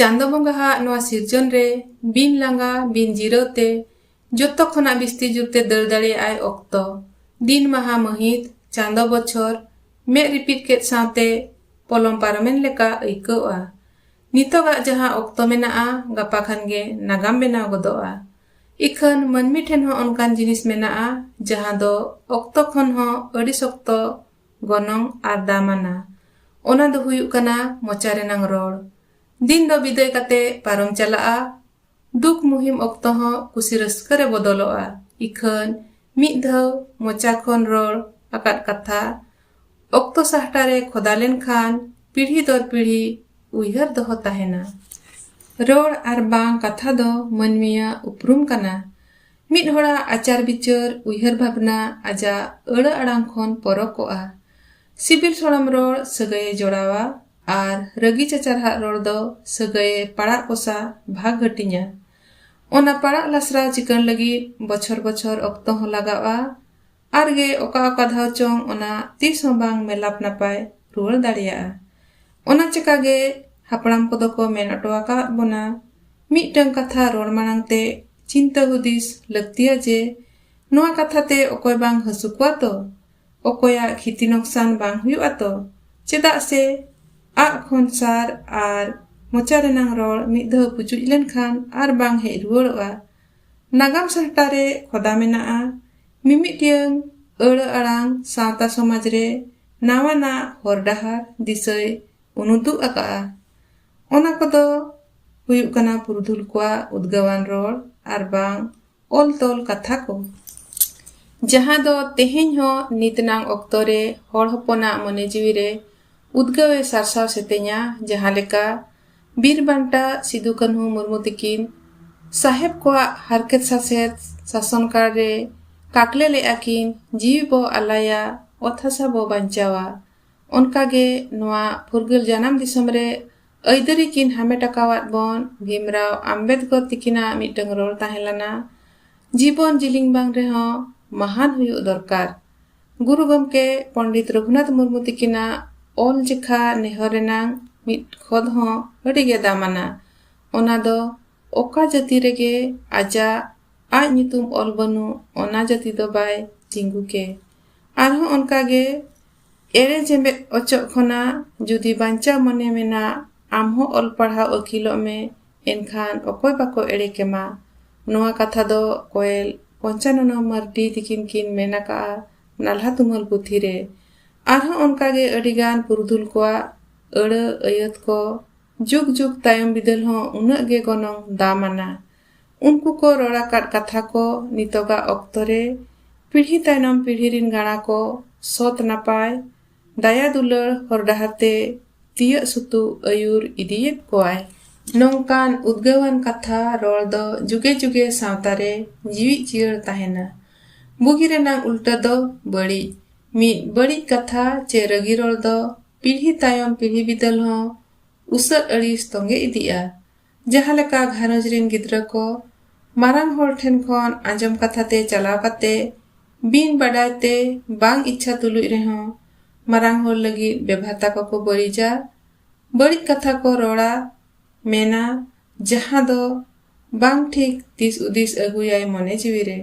ᱪᱟᱸᱫᱚ ᱵᱚᱸᱜᱟ ᱦᱟᱜ ᱱᱚᱣᱟ ᱥᱤᱨᱡᱚᱱ ᱨᱮ ᱵᱤᱱ ᱞᱟᱸᱜᱟ ᱵᱤᱱ ᱡᱤᱨᱟᱹᱣ ᱛᱮ ᱡᱚᱛᱚ ᱠᱷᱚᱱᱟᱜ ᱵᱤᱥᱛᱤ ᱡᱩᱨ ᱛᱮ ᱫᱟᱹᱲ ᱫᱟᱲᱮᱭᱟᱜ ᱟᱭ ᱚᱠᱛᱚ ᱫᱤᱱ ᱢᱟᱦᱟ ᱢᱟᱹᱦᱤᱛ ᱪᱟᱸᱫᱚ ᱵᱚᱪᱷᱚᱨ ᱢᱮᱫ ᱨᱤᱯᱤᱫ ᱠᱮᱫ ᱥᱟᱶᱛᱮ ᱯᱚᱞᱚᱢ ᱯᱟᱨᱚᱢᱮᱱ ᱞᱮᱠᱟ ᱟᱹᱭᱠᱟᱹᱣᱜᱼᱟ ᱱᱤᱛᱚᱜᱟᱜ ᱡᱟᱦᱟᱸ ᱚᱠᱛᱚ ᱢᱮᱱᱟᱜᱼᱟ ᱜᱟᱯᱟ ᱠᱷᱟᱱ ᱜᱮ ᱱᱟᱜᱟᱢ ᱵᱮᱱᱟᱣ ᱜᱚᱫᱚᱜᱼᱟ ᱤᱠᱷᱟᱹᱱ ᱢᱟᱹᱱᱢᱤ ᱴᱷᱮᱱ ᱦᱚᱸ ᱚᱱᱠᱟᱱ ᱡᱤᱱᱤᱥ ᱢᱮᱱᱟᱜᱼᱟ ᱡᱟᱦᱟᱸ ᱫᱚ ᱚᱠᱛᱚ ᱠᱷᱚᱱ ᱦᱚᱸ ᱟᱹᱰᱤ ᱥᱚᱠᱛᱚ ᱜᱚᱱᱚᱝ ᱟᱨ ᱫᱟᱢᱟᱱᱟ ᱚᱱᱟ ᱫᱚ ᱦᱩᱭᱩᱜ ᱠᱟᱱᱟ ᱢᱚᱪᱟ ᱨᱮᱱᱟᱝ ᱨᱚᱲ᱾ ᱫᱤᱱ ᱫᱚ ᱵᱤᱫᱟᱹᱭ ᱠᱟᱛᱮ ᱯᱟᱨᱚᱢ ᱪᱟᱞᱟᱜᱼᱟ᱾ ᱫᱩᱠ ᱢᱩᱦᱤᱢ ᱚᱠᱛᱚ ᱦᱚᱸ ᱠᱩᱥᱤ ᱨᱟᱹᱥᱠᱟᱹ ᱨᱮ ᱵᱚᱫᱚᱞᱚᱜᱼᱟ᱾ ᱤᱠᱷᱟᱹᱱ ᱢᱤᱫ ᱫᱷᱟᱹᱣ ᱢᱚᱪᱟ ᱠᱷᱚᱱ ᱨᱚᱲ ᱟᱠᱟᱫ ᱠᱟᱛᱷᱟ ᱚᱠᱛᱚ ᱥᱟᱦᱴᱟ ᱨᱮ ᱠᱷᱚᱫᱟ ᱞᱮᱱ ᱠᱷᱟᱱ ᱯᱤᱲᱦᱤ ᱫᱚᱨ ᱯᱤᱲᱦᱤ ᱩᱭᱦᱟᱹᱨ ᱫᱚᱦᱚ ᱛᱟᱦᱮᱸᱱᱟ᱾ ᱨᱚᱲ ᱟᱨ ᱵᱟᱝ ᱠᱟᱛᱷᱟ ᱫᱚ ᱢᱟᱹᱱᱢᱤᱭᱟᱜ ᱩᱯᱨᱩᱢ ᱠᱟᱱᱟ᱾ ᱢᱤᱫ ᱦᱚᱲᱟᱜ ᱟᱪᱟᱨ ᱵᱤᱪᱟᱹᱨ ᱩᱭᱦᱟᱹᱨ ᱵᱷᱟᱵᱽᱱᱟ ᱟᱡᱟᱜ ᱟᱹᱲᱟᱹ ᱟᱲᱟᱝ ᱠᱷᱚᱱ ᱯᱚᱨᱚᱠᱚᱜᱼᱟ᱾ ᱥᱤᱵᱤᱞ ᱥᱚᱲᱚᱢ ᱨᱚᱲ ᱥᱟᱹᱜᱟᱹᱭᱮ ᱡᱚᱲᱟᱣᱟ ᱟᱨ ᱨᱟᱹᱜᱤ ᱪᱟᱪᱟᱨᱦᱟᱜ ᱨᱚᱲ ᱫᱚ ᱥᱟᱹᱜᱟᱹᱭᱮ ᱯᱟᱲᱟᱜ ᱠᱚᱥᱟ, ᱵᱷᱟᱜᱽ ᱦᱟᱹᱴᱤᱧᱟ᱾ ᱚᱱᱟ ᱯᱟᱲᱟᱜ ᱞᱟᱥᱨᱟᱣ ᱪᱤᱠᱟᱹᱬ ᱞᱟᱹᱜᱤᱫ ᱵᱚᱪᱷᱚᱨ ᱵᱚᱪᱷᱚᱨ ᱚᱠᱛᱚ ᱦᱚᱸ ᱞᱟᱜᱟᱣᱜᱼᱟ᱾ ᱟᱨ ᱜᱮ ᱚᱠᱟ ᱚᱠᱟ ᱫᱷᱟᱣ ᱪᱚᱝ ᱚᱱᱟ ᱛᱤᱥ ᱦᱚᱸ ᱵᱟᱝ ᱢᱮᱞᱟᱯ ᱱᱟᱯᱟᱭ ᱨᱩᱣᱟᱹᱲ ᱫᱟᱲᱮᱭᱟᱜᱼᱟ᱾ ᱚᱱᱟ ᱪᱮᱠᱟ ᱜᱮ ᱦᱟᱯᱲᱟᱢ ᱠᱚᱫᱚ ᱠᱚ ᱢᱮᱱ ᱚᱴᱚ ᱟᱠᱟᱣᱟᱫ ᱵᱚᱱᱟ ᱢᱤᱫᱴᱟᱹᱝ ᱠᱟᱛᱷᱟ ᱨᱚᱲ ᱢᱟᱬᱟᱝ ᱛᱮ ᱪᱤᱱᱛᱟᱹ ᱦᱩᱫᱤᱥ ᱞᱟᱹᱠᱛᱤᱭᱟ ᱡᱮ ᱱᱚᱶᱟ ᱠᱟᱛᱷᱟ ᱛᱮ ᱚᱠᱚᱭ ᱵᱟᱝ ᱦᱟᱹᱥᱩ ᱠᱚᱣᱟ ᱛᱚ? ᱚᱠᱚᱭᱟᱜ ᱠᱷᱤᱛᱤ ᱱᱚᱠᱥᱟᱱ ᱵᱟᱝ ᱦᱩᱭᱩᱜᱼᱟ ᱛᱚ? ᱪᱮᱫᱟᱜ ᱥᱮ ᱟᱜ ᱠᱷᱚᱱ ᱥᱟᱨ ᱟᱨ ᱢᱚᱪᱟ ᱨᱮᱱᱟᱝ ᱨᱚᱲ ᱢᱤᱫ ᱫᱷᱟᱣ ᱯᱩᱪᱩᱡ ᱞᱮᱱ ᱠᱷᱟᱱ ᱟᱨ ᱵᱟᱝ ᱦᱮᱡ ᱨᱩᱣᱟᱹᱲᱚᱜᱼᱟ᱾ ᱱᱟᱜᱟᱢ ᱥᱟᱦᱴᱟ ᱨᱮ ᱠᱷᱚᱫᱟ ᱢᱮᱱᱟᱜᱼᱟ ᱢᱤᱢᱤᱫᱴᱟᱹᱝ ᱟᱹᱲᱟᱹ ᱟᱲᱟᱝ ᱥᱟᱶᱛᱟ ᱥᱚᱢᱟᱡᱽ ᱨᱮ ᱱᱟᱣᱟᱱᱟᱜ ᱦᱚᱨ ᱰᱟᱦᱟᱨ ᱫᱤᱥᱟᱹᱭ ᱩᱱᱩᱫᱩᱜ ᱟᱠᱟᱫᱼᱟ᱾ ᱚᱱᱟ ᱠᱚᱫᱚ ᱦᱩᱭᱩᱜ ᱠᱟᱱᱟ ᱯᱩᱨᱩᱫᱷᱩᱞ ᱠᱚᱣᱟᱜ ᱩᱫᱽᱜᱟᱹᱣᱟᱱ ᱨᱚᱲ ᱟᱨ ᱵᱟᱝ ᱚᱞ ᱛᱚᱞ ᱠᱟᱛᱷᱟ ᱠᱚ᱾ ᱡᱟᱦᱟᱸ ᱫᱚ ᱛᱮᱦᱮᱧ ᱦᱚᱸ ᱱᱤᱛ ᱱᱟᱝ ᱚᱠᱛᱚ ᱨᱮ ᱦᱚᱲ ᱦᱚᱯᱚᱱᱟᱜ ᱢᱚᱱᱮ ᱡᱤᱣᱤ ᱨᱮ ᱩᱫᱽᱜᱟᱹᱣ ᱮ ᱥᱟᱨᱥᱟᱣ ᱥᱮᱛᱮᱧᱟ ᱡᱟᱦᱟᱸ ᱞᱮᱠᱟ᱾ ᱵᱤᱨ ᱵᱟᱱᱴᱟ ᱥᱤᱫᱩ ᱠᱟᱹᱱᱦᱩ ᱢᱩᱨᱢᱩ ᱛᱤᱠᱤᱱ ᱥᱟᱦᱮᱵᱽ ᱠᱚᱣᱟᱜ ᱦᱟᱨᱠᱮᱛ ᱥᱟᱥᱮᱛ ᱥᱟᱥᱚᱱ ᱠᱟᱞ ᱨᱮ ᱠᱟᱠᱞᱮ ᱞᱮᱫᱼᱟ ᱠᱤᱱ ᱡᱤᱣᱤ ᱵᱚ ᱟᱞᱟᱭᱟ ᱚᱛ ᱦᱟᱥᱟ ᱵᱚ ᱵᱟᱧᱪᱟᱣᱟ ᱚᱱᱠᱟ ᱜᱮ ᱱᱚᱣᱟ ᱯᱷᱩᱨᱜᱟᱹᱞ ᱡᱟᱱᱟᱢ ᱫᱤᱥᱚᱢ ᱨᱮ ᱟᱹᱭᱫᱟᱹᱨᱤ ᱠᱤᱱ ᱦᱟᱢᱮᱴ ᱟᱠᱟᱣᱟᱫ ᱵᱚᱱ ᱵᱷᱤᱢᱨᱟᱣ ᱟᱢᱵᱮᱫᱽᱠᱚᱨ ᱛᱤᱠᱤᱱᱟᱜ ᱢᱤᱫᱴᱟᱝ ᱨᱚᱲ ᱛᱟᱦᱮᱸ ᱞᱮᱱᱟ ᱡᱤᱵᱚᱱ ᱡᱤᱞᱤᱝ ᱵᱟᱝ ᱨᱮᱦᱚᱸ ᱢᱟᱦᱟᱱ ᱦᱩᱭᱩᱜ ᱫᱚᱨᱠᱟᱨ ᱜᱩᱨᱩ ᱜᱚᱢᱠᱮ ᱯᱚᱱᱰᱤᱛ ᱨᱚᱜᱷᱩᱱᱟᱛᱷ ᱢᱩᱨᱢᱩ ᱛᱤᱠᱤᱱᱟᱜ ᱚᱞ ᱡᱮᱠᱷᱟ ᱱᱮᱦᱚᱨ ᱨᱮᱱᱟᱝ ᱢᱤᱫ ᱠᱷᱚᱫ ᱦᱚᱸ ᱟᱹᱰᱤ ᱜᱮ ᱫᱟᱢᱟᱱᱟ ᱚᱱᱟ ᱫᱚ ᱚᱠᱟ ᱡᱟᱹᱛᱤ ᱨᱮᱜᱮ ᱟᱡᱟᱜ ᱟᱡ ᱧᱩᱛᱩᱢ ᱚᱞ ᱵᱟᱹᱱᱩᱜ ᱚᱱᱟ ᱡᱟᱹᱛᱤ ᱫᱚ ᱵᱟᱭ ᱛᱤᱸᱜᱩ ᱠᱮ ᱟᱨᱦᱚᱸ ᱚᱱᱠᱟ ᱜᱮ ᱮᱲᱮ ᱡᱮᱢᱵᱮᱫ ᱚᱪᱚᱜ ᱠᱷᱚᱱᱟᱜ ᱡᱩᱫᱤ ᱵᱟᱧᱪᱟᱣ ᱢᱚᱱᱮ ᱢᱮᱱᱟᱜ ᱟᱢ ᱦᱚᱸ ᱚᱞ ᱯᱟᱲᱦᱟᱣ ᱟᱹᱠᱤᱞᱚᱜ ᱢᱮ ᱮᱱᱠᱷᱟᱱ ᱚᱠᱚᱭ ᱵᱟᱠᱚ ᱮᱲᱮ ᱠᱮᱢᱟ ᱱᱚᱣᱟ ᱠᱟᱛᱷᱟ ᱫᱚ ᱠᱚᱭᱮᱞ ᱯᱚᱧᱪᱟᱱᱚᱱᱟ ᱢᱟᱨᱰᱤ ᱛᱤᱠᱤᱱ ᱠᱤᱱ ᱢᱮᱱ ᱟᱠᱟᱜᱼᱟ ᱱᱟᱞᱦᱟ ᱛᱩᱢᱟᱹᱞ ᱯᱩᱛᱷᱤ ᱨᱮ ᱟᱨᱦᱚᱸ ᱚᱱᱠᱟ ᱜᱮ ᱟᱹᱰᱤ ᱜᱟᱱ ᱯᱩᱨᱩᱫᱷᱩᱞ ᱠᱚᱣᱟᱜ ᱟᱹᱲᱟᱹ ᱟᱹᱭᱟᱹᱛ ᱠᱚ ᱡᱩᱜᱽ ᱡᱩᱜᱽ ᱛᱟᱭᱚᱢ ᱵᱤᱫᱟᱹᱞ ᱦᱚᱸ ᱩᱱᱟᱹᱜ ᱜᱮ ᱜᱚᱱᱚᱝ ᱫᱟᱢ ᱟᱱᱟ ᱩᱱᱠᱩ ᱠᱚ ᱨᱚᱲ ᱟᱠᱟᱫ ᱠᱟᱛᱷᱟ ᱠᱚ ᱱᱤᱛᱚᱜᱟᱜ ᱚᱠᱛᱚ ᱨᱮ ᱯᱤᱲᱦᱤ ᱛᱟᱭᱱᱚᱢ ᱯᱤᱲᱦᱤ ᱨᱤᱱ ᱜᱟᱬᱟ ᱠᱚ ᱥᱚᱛ ᱱᱟᱯᱟᱭ ᱫᱟᱭᱟ ᱫᱩᱞᱟᱹᱲ ᱦᱚᱨ ᱰᱟᱦᱟᱨ ᱛᱮ ᱛᱤᱭᱟᱹᱜ ᱥᱩᱛᱩᱜ ᱟᱹᱭᱩᱨ ᱤᱫᱤᱭᱮᱫ ᱠᱚᱣᱟᱭ ᱱᱚᱝᱠᱟᱱ ᱩᱫᱽᱜᱟᱹᱣᱟᱱ ᱠᱟᱛᱷᱟ ᱨᱚᱲ ᱫᱚ ᱡᱩᱜᱮ ᱡᱩᱜᱮ ᱥᱟᱶᱛᱟ ᱨᱮ ᱡᱤᱣᱤᱫ ᱡᱤᱭᱟᱹᱲ ᱛᱟᱦᱮᱱᱟ ᱵᱩᱜᱤ ᱨᱮᱱᱟᱜ ᱩᱞᱴᱟᱹ ᱫᱚ ᱵᱟᱹᱲᱤᱡ ᱢᱤᱫ ᱵᱟᱹᱲᱤᱡ ᱠᱟᱛᱷᱟ ᱪᱮ ᱨᱟᱹᱜᱤ ᱨᱚᱲ ᱫᱚ ᱯᱤᱲᱦᱤ ᱛᱟᱭᱚᱢ ᱯᱤᱲᱦᱤ ᱵᱤᱫᱟᱹᱞ ᱦᱚᱸ ᱩᱥᱟᱹᱫ ᱟᱹᱲᱤᱥ ᱛᱚᱸᱜᱮ ᱤᱫᱤᱜᱼᱟ ᱡᱟᱦᱟᱸ ᱞᱮᱠᱟ ᱜᱷᱟᱨᱚᱸᱡᱽ ᱨᱤᱱ ᱜᱤᱫᱽᱨᱟᱹ ᱠᱚ ᱢᱟᱨᱟᱝ ᱦᱚᱲ ᱴᱷᱮᱱ ᱠᱷᱚᱱ ᱟᱸᱡᱚᱢ ᱠᱟᱛᱷᱟ ᱛᱮ ᱪᱟᱞᱟᱣ ᱠᱟᱛᱮ ᱵᱤᱱ ᱵᱟᱰᱟᱭ ᱛᱮ ᱵᱟᱝ ᱤᱪᱪᱷᱟ ᱛᱩᱞᱩᱡ ᱨᱮᱦᱚᱸ ᱢᱟᱨᱟᱝ ᱦᱚᱲ ᱞᱟᱹᱜᱤᱫ ᱵᱮᱵᱷᱟᱛᱟ ᱠᱚᱠᱚ ᱵᱟᱹᱲᱤᱡᱟ, ᱵᱟᱹᱲᱤᱡ ᱠᱟᱛᱷᱟ ᱠᱚ ᱨᱚᱲᱟ, ᱢᱮᱱᱟ, ᱡᱟᱦᱟᱸ ᱫᱚ ᱵᱟᱝ ᱴᱷᱤᱠ ᱫᱤᱥ ᱩᱫᱤᱥ ᱟᱹᱜᱩᱭᱟᱭ ᱢᱚᱱᱮ ᱡᱤᱣᱤ ᱨᱮ,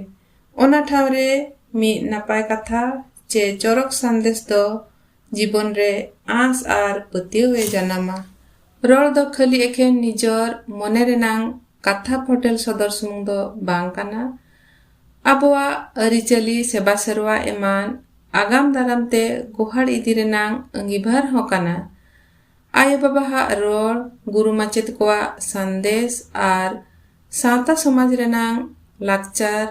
ᱚᱱᱟ ᱴᱷᱟᱶ ᱨᱮ ᱢᱤᱫ ᱱᱟᱯᱟᱭ ᱠᱟᱛᱷᱟ ᱪᱮ ᱪᱚᱨᱚᱠ ᱥᱟᱸᱫᱮᱥ ᱫᱚ ᱡᱤᱵᱚᱱ ᱨᱮ ᱟᱸᱥ ᱟᱨ ᱯᱟᱹᱛᱭᱟᱹᱣ ᱮ ᱡᱟᱱᱟᱢᱟ᱾ ᱨᱚᱲ ᱫᱚ ᱠᱷᱟᱹᱞᱤ ᱮᱠᱷᱮᱱ ᱱᱤᱡᱚᱨ ᱢᱚᱱᱮ ᱨᱮᱱᱟᱝ ᱠᱟᱛᱷᱟ ᱯᱷᱚᱴᱮᱞ ᱥᱚᱫᱚᱨ ᱥᱩᱢᱩᱝ ᱫᱚ ᱵᱟᱝ ᱠᱟᱱᱟ᱾ ᱟᱵᱚᱣᱟᱜ ᱟᱹᱨᱤᱪᱟᱹᱞᱤ, ᱥᱮᱵᱟ ᱥᱮᱨᱣᱟ ᱮᱢᱟᱱ ᱟᱜᱟᱢ ᱫᱟᱨᱟᱢ ᱛᱮ ᱜᱚᱦᱟᱲ ᱤᱫᱤ ᱨᱮᱱᱟᱝ ᱟᱺᱜᱤᱵᱷᱟᱨ ᱦᱚᱸ ᱠᱟᱱᱟ᱾ ᱟᱭᱳ ᱵᱟᱵᱟ ᱦᱟᱜ ᱨᱚᱲ, ᱜᱩᱨᱩ ᱢᱟᱪᱮᱛ ᱠᱚᱣᱟᱜ ᱥᱟᱱᱫᱮᱥ ᱟᱨ ᱥᱟᱶᱛᱟ ᱥᱚᱢᱟᱡᱽ ᱨᱮᱱᱟᱝ ᱞᱟᱠᱪᱟᱨ,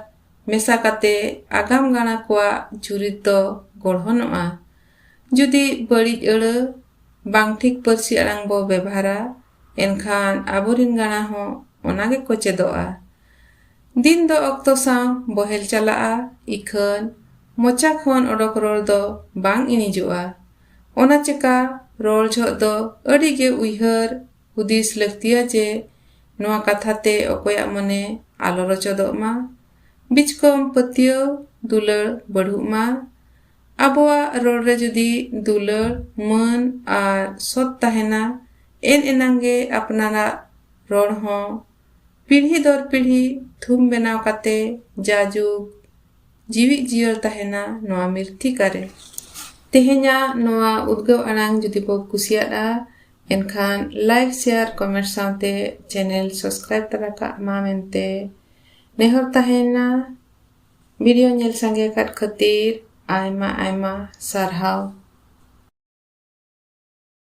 ᱢᱮᱥᱟ ᱠᱟᱛᱮ ᱟᱜᱟᱢ ᱜᱟᱬᱟ ᱠᱚᱣᱟᱜ ᱪᱩᱨᱤᱛ ᱫᱚ ᱜᱚᱲᱦᱚᱱᱚᱜᱼᱟ᱾ ᱡᱩᱫᱤ ᱵᱟᱹᱲᱤᱡ ᱟᱹᱲᱟᱹ, ᱵᱟᱝ ᱴᱷᱤᱠ ᱯᱟᱹᱨᱥᱤ ᱟᱲᱟᱝ ᱵᱚ ᱵᱮᱵᱷᱟᱨᱟ ᱮᱱᱠᱷᱟᱱ ᱟᱵᱚ ᱨᱤᱱ ᱜᱟᱬᱟ ᱦᱚᱸ ᱚᱱᱟ ᱜᱮ ᱠᱚ ᱪᱮᱫᱚᱜᱼᱟ᱾ ᱫᱤᱱ ᱫᱚ ᱚᱠᱛᱚ ᱥᱟᱶ ᱵᱚᱦᱮᱞ ᱪᱟᱞᱟᱜᱼᱟ ᱤᱠᱷᱟᱹᱱ ᱢᱚᱪᱟ ᱠᱷᱚᱱ ᱚᱰᱚᱠ ᱨᱚᱲ ᱫᱚ ᱵᱟᱝ ᱤᱬᱤᱡᱚᱜᱼᱟ᱾ ᱚᱱᱟ ᱪᱮᱠᱟ ᱨᱚᱲ ᱡᱷᱚᱜ ᱫᱚ ᱟᱹᱰᱤ ᱜᱮ ᱩᱭᱦᱟᱹᱨ ᱦᱩᱫᱤᱥ ᱞᱟᱹᱠᱛᱤᱭᱟ ᱡᱮ ᱱᱚᱣᱟ ᱠᱟᱛᱷᱟ ᱛᱮ ᱚᱠᱚᱭᱟᱜ ᱢᱚᱱᱮ ᱟᱞᱚ ᱨᱚᱪᱚᱫᱚᱜ ᱢᱟ, ᱵᱤᱪᱠᱚᱢ ᱯᱟᱹᱛᱭᱟᱹᱣ ᱫᱩᱞᱟᱹᱲ ᱵᱟᱹᱲᱦᱩᱜ ᱢᱟ᱾ ᱟᱵᱚᱣᱟᱜ ᱨᱚᱲ ᱨᱮ ᱡᱩᱫᱤ ᱫᱩᱞᱟᱹᱲ, ᱢᱟᱹᱱ ᱟᱨ ᱥᱚᱛ ᱛᱟᱦᱮᱸᱱᱟ, ᱮᱱ ᱮᱱᱟᱝ ᱜᱮ ᱟᱯᱱᱟᱨᱟᱜ ᱨᱚᱲ ᱦᱚᱸ ᱯᱤᱲᱦᱤ ᱫᱚᱨ ᱯᱤᱲᱦᱤ ᱛᱷᱩᱢ ᱵᱮᱱᱟᱣ ᱠᱟᱛᱮ ᱡᱟᱭᱡᱩᱜᱽ ᱡᱤᱣᱤᱫ ᱡᱤᱭᱟᱹᱲ ᱛᱟᱦᱮᱸᱱᱟ ᱱᱚᱣᱟ ᱢᱤᱨᱛᱷᱤᱠᱟ ᱨᱮ᱾ ᱛᱮᱦᱮᱧᱟᱜ ᱱᱚᱣᱟ ᱩᱫᱽᱜᱟᱹᱣ ᱟᱲᱟᱝ ᱡᱩᱫᱤ ᱵᱚ ᱠᱩᱥᱤᱭᱟᱫᱼᱟ, ᱮᱱᱠᱷᱟᱱ ᱞᱟᱭᱤᱠ ᱥᱮᱭᱟᱨ ᱠᱚᱢᱮᱱᱴ ᱥᱟᱶᱛᱮ ᱪᱮᱱᱮᱞ ᱥᱟᱵᱥᱠᱨᱟᱭᱤᱵ ᱛᱟᱨᱟ ᱠᱟᱜ ᱢᱟ ᱢᱮᱱᱛᱮ ᱱᱮᱦᱚᱨ ᱛᱟᱦᱮᱸᱱᱟ ᱵᱷᱤᱰᱤᱭᱳ ᱧᱮᱞ ᱥᱟᱸᱜᱮ ᱟᱠᱟᱫ ᱠᱷᱟᱹᱛᱤᱨ ᱟᱭᱢᱟ ᱟᱭᱢᱟ ᱥᱟᱨᱦᱟᱣ